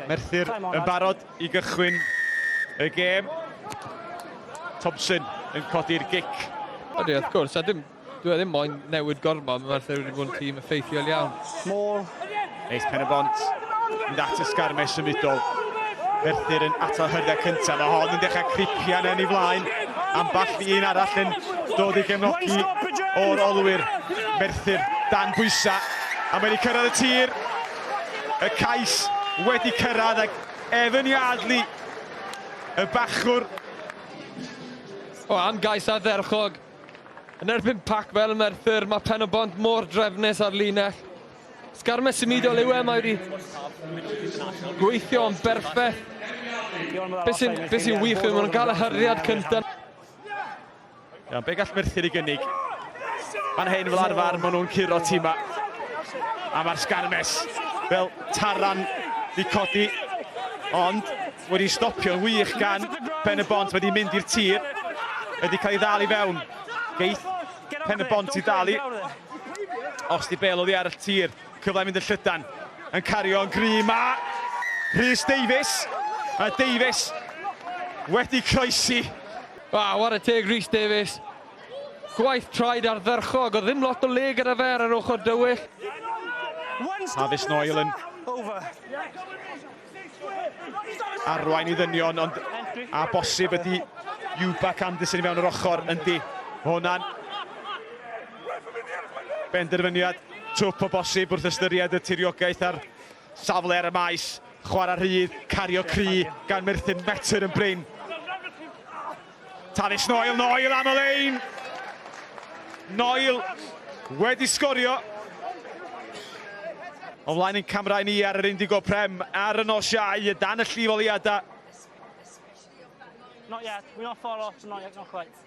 Merthyr yn barod i gychwyn y gêm. Thompson yn codi'r gic. Ydy, wrth gwrs, a dim, dwi e ddim moyn newid gormod, mae Merthyr wedi bod yn tîm effeithiol iawn. Môl. Eis pen y bont, mynd at y sgarme symudol. Merthyr yn atal hyrda cyntaf, mae hon yn dechrau cripian yn ei flaen. Amball i un arall yn dod i gefnogi o'r olwyr. Merthyr dan bwysa, a mae wedi cyrraedd y tir. y cais wedi cyrraedd ac Evan Yardley, y bachwr. O, am gais ardderchog. Yn erbyn pac fel Merthyr, mae pen o bont mor drefnus ar linell. Sgarmes symudol yw e, mae wedi gweithio yn berffaith. Beth sy'n wych yw, maen nhw'n cael y hyriad cyntaf. Iawn, be gall Merthyr i gynnig? Fan hyn fel arfer, maen nhw'n curo tima. A mae'r sgarmes fel taran di codi. Ond wedi stopio'n wych gan Pen y Bont wedi mynd i'r tir. Wedi cael ei ddal i fewn. Geith Pen y Bont i ddal i. Os di bel oddi ar y tir. Cyfle mynd y llydan. Yn cario'n gry ma. Rhys Davies. Mae Davies wedi croesi Waw, ware teg Rhys Davies. Gwaith traed ardderchog, o ddim lot o le gyda fe ar yr ochr dywyll. Hafis Noel yn arwain i ddynion, ond a bosib ydy Iwbac Anderson i mewn yr ochr, yndi. Hwna'n benderfyniad twp o bosib wrth ystyried y tiriogaeth a'r safle ar y maes. Chwarae rhydd, cario cri gan Merthyr Metr yn brin. Tallis Noel, Noel am y lein! Noel wedi sgorio. O'n flaen yn camerau ni ar yr Indigo Prem ar y nos iau y dan y llifoliadau. Not yet, we're not far off, not yet, not quite.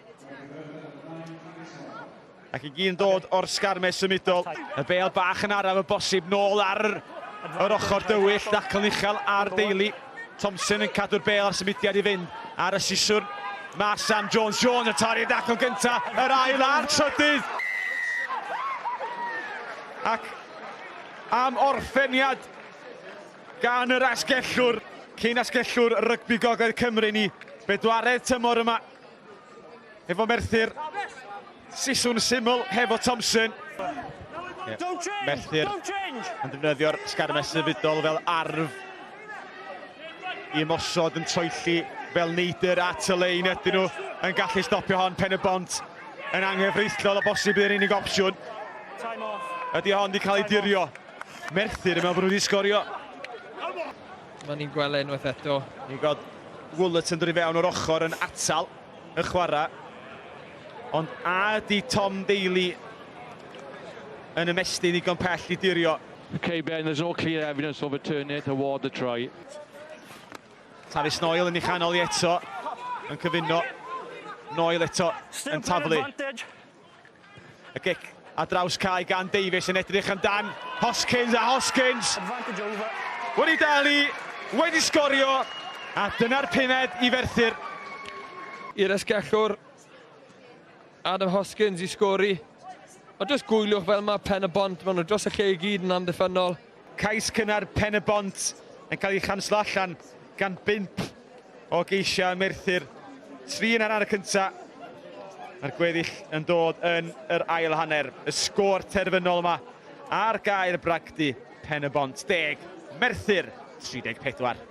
Ac i gyn dod o'r sgarme symudol. Y bel bach yn araf y bosib nôl ar yr ochr dywyll. Dacl uchel ar deulu. Thompson yn cadw'r bel a'r symudiad i fynd ar y siswrn. Mae Sam Jones Jones y torri dacl gynta, yr ail a'r trydydd. Ac am orffeniad gan yr asgellwr, cyn asgellwr rygbi gogledd Cymru ni, bedwaredd tymor yma Efo Merthyr, siswn syml hefo Thompson. Yeah. Merthyr yn defnyddio'r sgarmes sefydol fel arf i ymosod yn troelli fel neidr at y lein ydyn nhw yn gallu stopio hon pen y bont yn anghyfreithlol o bosib yn unig opsiwn. Ydy hon wedi cael ei dirio. Merthyr yn meddwl bod nhw wedi sgorio. Mae ni'n gweld e unwaith eto. Ni'n gweld Woolert yn dod i fewn o'r ochr yn atal y chwarae. Ond a ydy Tom Daly yn ymestyn ddigon pell i dirio? Okay, Ben, there's no clear evidence of a turning toward the try. Tavis Noel yn ei chanol i eto, yn cyfuno. Noel eto yn taflu. Y gic a draws cae gan Davies yn edrych amdan Hoskins a Hoskins wedi dal i, wedi sgorio a dyna'r pumed i Ferthyr. I'r esgellwr Adam Hoskins i sgori. Ond does gwyliwch fel mae Pen-y-bont, maen nhw dros y lle i gyd yn amddiffynnol. Cais cynnar Pen-y-bont yn cael ei chanslo allan gan bump o geisiau ym Merthyr. Tri yn hanner y cyntaf. Mae'r gweddill yn dod yn yr ail hanner. Y sgôr terfynol yma ar gair bragdy Pen-y-bont 10, Merthyr 34.